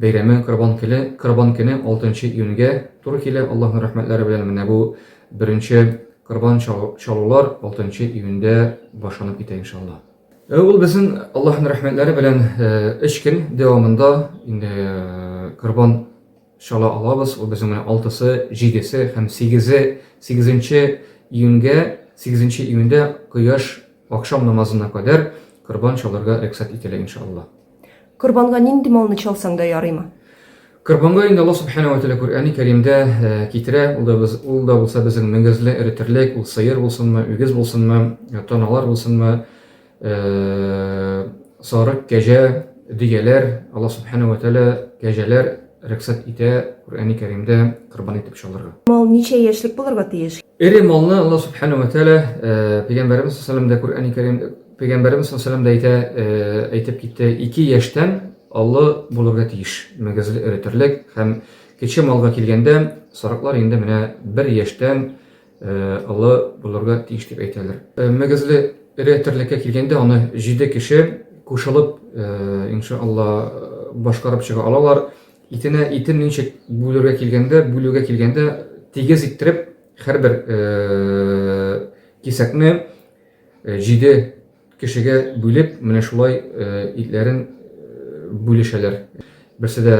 Бәйрәме Корбан келе, Корбан көне 6 нчы июньгә туры килә, Аллаһның рәхмәтләре белән менә бу беренче Корбан чалулар 6 нчы июньдә башланып китә иншалла. Э, ул безнең Аллаһның рәхмәтләре белән 3 э, көн дәвамында инде э, Корбан чала алабыз, ул безнең менә 6-сы, 7-се һәм 8-е, 8-нче июньгә, 8-нче июньдә кояш акшам намазына кадәр Корбан чалырга рөхсәт ителә иншалла. Корбанга нинди малны чалсаң да ярыймы? Корбанга инде Аллаһ Субхана ва Тәгалә Коръәни Кәримдә э, китерә, ул да, без, ул да булса безнең мөгезле эре терлек, ул сыер булсынмы, үгез булсынмы, э, таналар булсынмы, э, сарык, кәҗә, дөяләр, Аллаһ Субхана ва Тәгалә кәҗәләр рөхсәт итә Коръәни Кәримдә корбан итеп чалырга. Мал ничә яшьлек булырга тиеш? Эре малны Аллаһ Субхана ва Тәгалә пәйгамбәребез саллаллаху алейһи ва Коръәни Кәрим Пәйгамбәребез саллаллаху алейһи ва әйтә, э, әйтеп китте, ике яшьтән олы булырга тиеш, мөгезле өретерлек һәм кече малга килгәндә, сарыклар инде менә бер яшьтән э, олы булырга тиеш дип әйтәләр. Э, мөгезле өретерлеккә килгәндә аны җиде кеше кушылып, иншалла, башкарып чыга алалар. Итенә итен ничек бүлергә килгәндә, бүлүгә килгәндә тигез иттереп һәрбер кисәкне Җиде кешегә бүлеп, менә шулай итләрен бүлешәләр. Берсе дә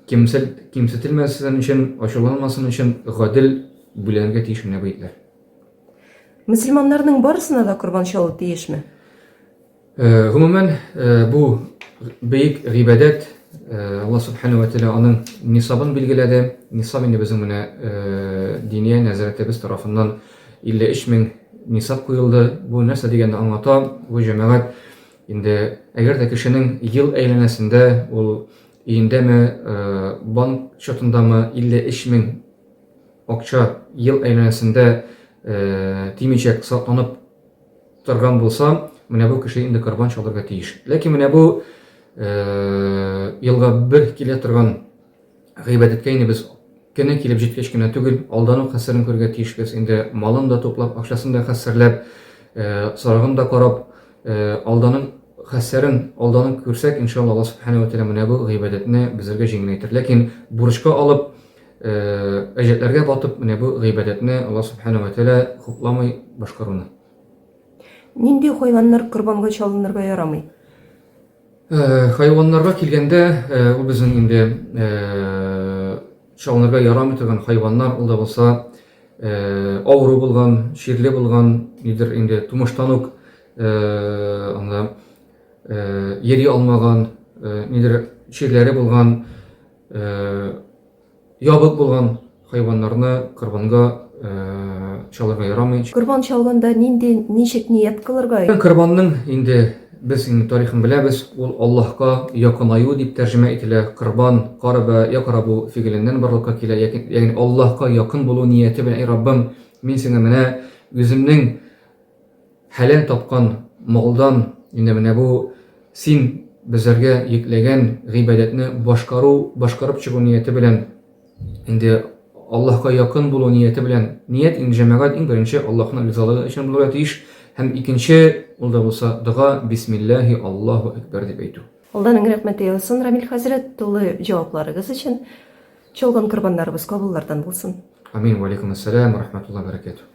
кимсетелмәсен өчен, ачуланмасын өчен гадел бүләнергә тиеш менә бу итләр. Мөселманнарның барысына да корбан чалу тиешме? Э, гомумән, э, бу бөек гыйбадәт э, Алла субхана ва тәала аның нисабын билгеләде. Нисаб инде безнең менә диния нәзәрәтебез тарафыннан 53 мең нисаб куелды. Бу нәрсә дигәндә аңлата? Бу җәмәгать инде әгәр дә кешенең ел әйләнәсендә ул өендәме, банк счетындамы 53 мең акча ел әйләнәсендә тимичәк сакланып Торган булса, менә бу кеше инде корбан чалырга тиеш. Ләкин менә бу елга бер килә торган гыйбадәткә инде без кене килеп җиткәч кенә түгел, алдану хәсәрен күрергә тиешбез. Инде малын да туплап, акчасын да хәсәрләп, сарыгын да карап, алданың хәсәрен алданып күрсәк, иншалла Аллаһ субхана ва тәгалә менә бу гыйбадәтне безгә җиңеләйтер. Ләкин бурычка алып, Әҗәтләргә батып, менә бу гыйбадәтне Алла Субхана ва Тәгалә хупламый башкаруны. Нинди хайваннар корбанга чалынырга ярамый? Хайваннарга килгәндә, ул безнең инде чалынырга ярамый торган хайваннар, ул да булса авыру булган, чирле булган, нидер инде тумыштан ук анда йөри алмаган, нидер чирләре булган Ябык булган хайваннарны корбанга чалырга ярамый. Корбан чалганда нинди ничек ният кылырга? Корбанның инде без инде тарихын беләбез, ул Аллаһка якынаю дип тәрҗемә ителә. Корбан, караба, якарабу фигеленнән барлыкка килә. Ягъни Аллаһка якын булу нияте белән, эй Раббым, мин сиңа менә үземнең Хәләл тапкан малдан, инде менә бу син безләргә йөкләгән гыйбадәтне башкару, башкарып чыгу нияте белән, инде Аллаһка якын булу нияте белән, ният инде җәмәгать иң беренче Аллаһның ризалыгы өчен булырга тиеш, һәм икенче, ул да булса дога, бисмиллаһи Аллаһу әкбәр дип әйтү. Алдан иң рәхмәт яусын, Рамил хәзрәт, тулы җавапларыгыз өчен. Чалган корбаннарыбыз кабуллардан булсын. Амин, вәаләйкүмәссәлам, вәрәхмәтуллаһи вә бәрәкәтүһ.